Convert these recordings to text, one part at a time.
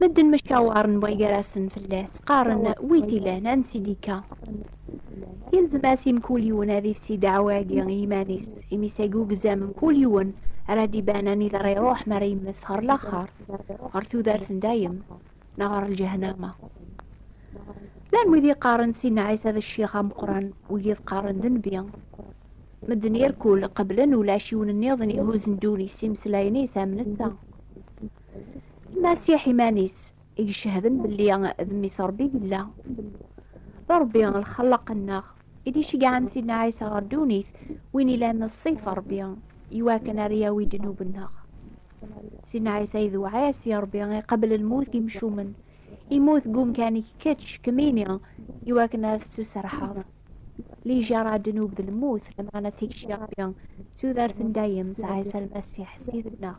Medden maca uɛren wagarasen fell-as, qqaren wi t-ilan, ansi-d-ikka. Yelzem-as i mkul yiwen ad ifsi ddeɛwa-agi i yiman-is, imi s agi ugzam mkul yiwen ara d-iban anida ara iruḥ mi ara yemmet ɣer laxer, ɣer tudert n dayem, neɣ ɣer lǧehnama. Llan wid yeqqaren Sidna Ɛisa d ccix ameqqran, wigid qqaren d nnbi. Medden irkul qeblen ulac yiwen nniḍen ihuzzen ddunit s imeslayen-is am netta. Masiḥ iman-is i icehden belli d mmi-s Rebbi yella. D Rebbi lxellaq-nneɣ i d-iceggɛen Sidna Ɛisa ɣer ddunit, win ilan ṣṣifa Rebbi, iwakken ara yawi ddnub-nneɣ. Sidna Ɛisa i d uɛasi Rebbi iqabel lmut n yimcumen, imut deg umkan-ik kečč, kemmini, iwakken ad tettuserḥeḍ. Lijaṛa ddnub d lmut, lameɛna tikci Rebbi d tudert n dayem s Ɛisa Lmasiḥ Ssid-nneɣ.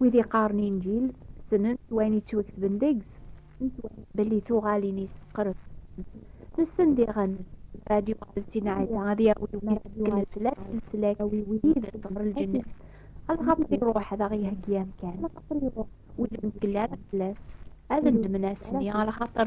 Wid iqqaren Inǧil ssnen s wayen yettwaketben deg-s, ssnen s wayen belli tuɣalin-is meqqret fell-asen, nessen diɣen mer ad yuɣal Sina Ɛisa ad yawi wid ittgellen fell-as leslak yid-s ɣer lǧennet, axaṭer iruḥ ad aɣ-iheggi amkan. Wid ur ntgell ara fell-as ad nedmen ass-nni, axaṭer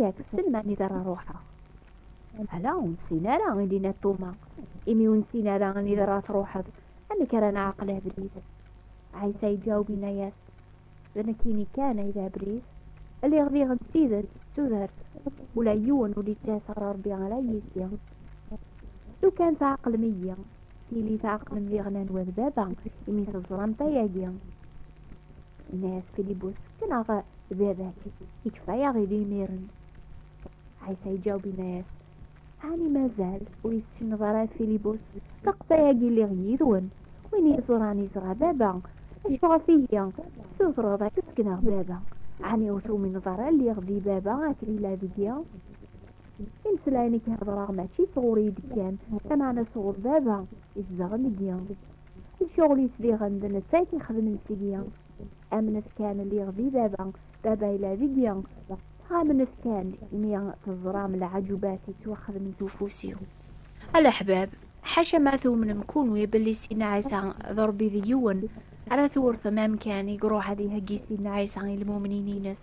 Yak sselman i d ara ruḥeɣ. Ala, ur nessin ara, i d-yenna Tuma. Imi ur nessin ara anida ara truḥeḍ, amek ara nɛeqel abrid? Ɛisa iǧaweb yenna-yas, D nekkini kan ay d abrid. Lliɣ diɣen d tidet, d tudert. Ula yiwen ur d-yettas ɣer Rebbi ala yis-i. Lukan tɛeqlem-iyi, tili tɛeqlem diɣen anwa d Baba, imi teẓramt ayagi. Nna-yas Filibus, Neɣ baba-k ikfa-yaɣ i d-imiren. Ɛisa iǧaweb inna-yas, Ɛni mazal ur issineḍ ara a Filibus, taqta-yagi lliɣ yid-wen, win iẓuran iẓra baba, acu ɣef ihi tessutreḍ ad k-ssekneɣ baba? Ɛni ur tumineḍ ara lliɣ di baba akken yella deg-i? Imeslayen i k-heddreɣ mačči sɣur-i i d-kkan, lameɛna sɣur baba izedɣen deg-i. I ccɣel yesbiɣen d netta i t-ixedmen sigi. Amnet kan liɣ di baba, baba yella deg-i. Amnet kan imi teẓram lɛaǧubat yettwaxedmen s ufus-iw. A leḥbab, ḥaca ma tumnem kunwi belli Sidna Ɛisa d Rebbi d yiwen, ara twurtem amkan i iruḥ ad iheggi Sidna Ɛisa i lmumnin-ines.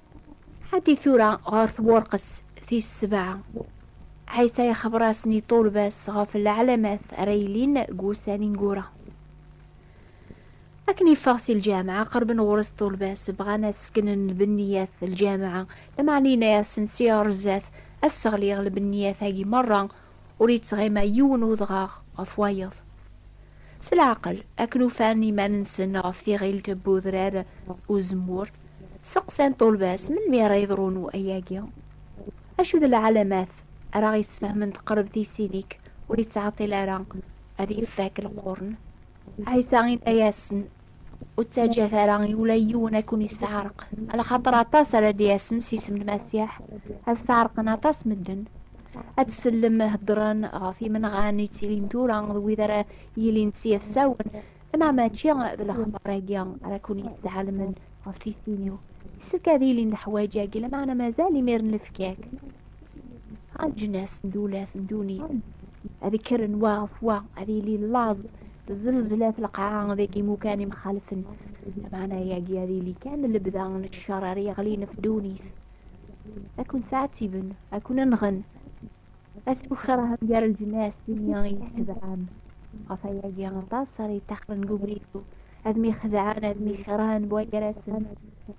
Ḥaddi tura ɣer tburqes tis sebɛa. Ɛisa ixebber-asen i ṭṭulba-s ɣef leɛlamat ara yilin deg wussan ineggura. Akken yeffeɣ si lǧameɛ, qerben ɣur-s ṭṭulba-s, bɣan ad sseknen lbenniyat n lǧameɛ, lameɛna yenna-asen si ɣer zdat ad sseɣliɣ lbenniyat-agi merra ur yettɣima yiwen udɣaɣ ɣef wayeḍ. S leɛqel, akken ufan iman-nsen ɣef tiɣilt n udrar n uzemmur, steqsan ṭṭulba-s melmi ara yeḍrun wayagi. Acu d lɛalamat ara ɣ-yessfehmen teqreb tisin-ik ur yettɛeṭṭil ara ad yefak lqurn? Ɛisa yenna-yasen. Ur ttaǧǧat ara i ula yiwen ad ken-yesseɛreq, alaxaṭer aṭas ara d-yasen s isem n Masiḥ, ad sseɛreqen aṭas n medden. Ad tsellem heddren ɣef yimenɣan yettilin tura d wid ara yilin d tiyefsawen, lameɛna mačči d lexbar-agi ara ken-yesseɛelmen ɣef tissin-iw. Yessefk ad ilin leḥwayeǧ-agi, lameɛna mazal imir n lefkak. aǧnas n dulat n duni ad kkren wa ɣef wa ad yili laẓ zelzlat lqaɛa deg imukan imxalfen maɛna yagi ad yili kan lebda n ccer ar yeɣlin ɣef dunit ad ken-ttɛettiben ad ken-nɣen asfukraha gar lǧnas d imi i tebɛam ɣef ayagi aṭas ara yeṭṭaxren deg ubrid ad myexedɛen ad myekṛhen buɛgarasen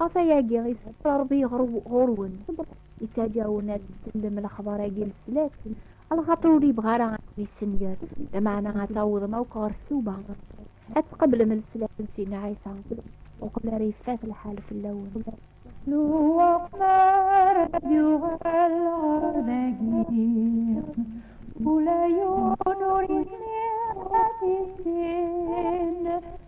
Ɣef ayagi i sefra Rebbi ɣur-wen, yettaǧǧa-wen ad tsellem lexbar-agi n snat, lxaṭer ur yebɣi ara ad kem-yessenger, lameɛna ad tawḍem akk ɣer ttuba, ad tqeblem leslak n Sidna Ɛisa, uqbel ara yeffat lḥal fell-awen. Ṛju aqmar ad yuɣal ɣer dagi, ula yiwen ur yezmir ad t-issin.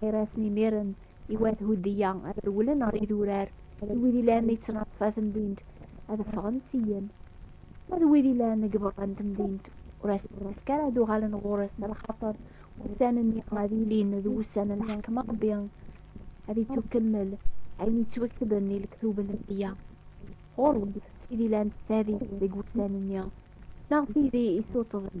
Gar-asen imiren, i wat Hudeyya ad rewlen ɣer idurar, d wid ilan di ttnaṭfa temdint ad ffɣen syin, ma d wid ilan deg berra n temdint ur asen-nefk ara ad uɣalen ɣur-s, lxaṭer ussan-nni ad ilin d wussan n leḥkem n Rebbi, ad ittukemmel ayen yettweketben di lektub n Rebbi-a ɣur-went, tid ilan s tadist deg wussan-nni, neɣ tid i isuṭṭḍen.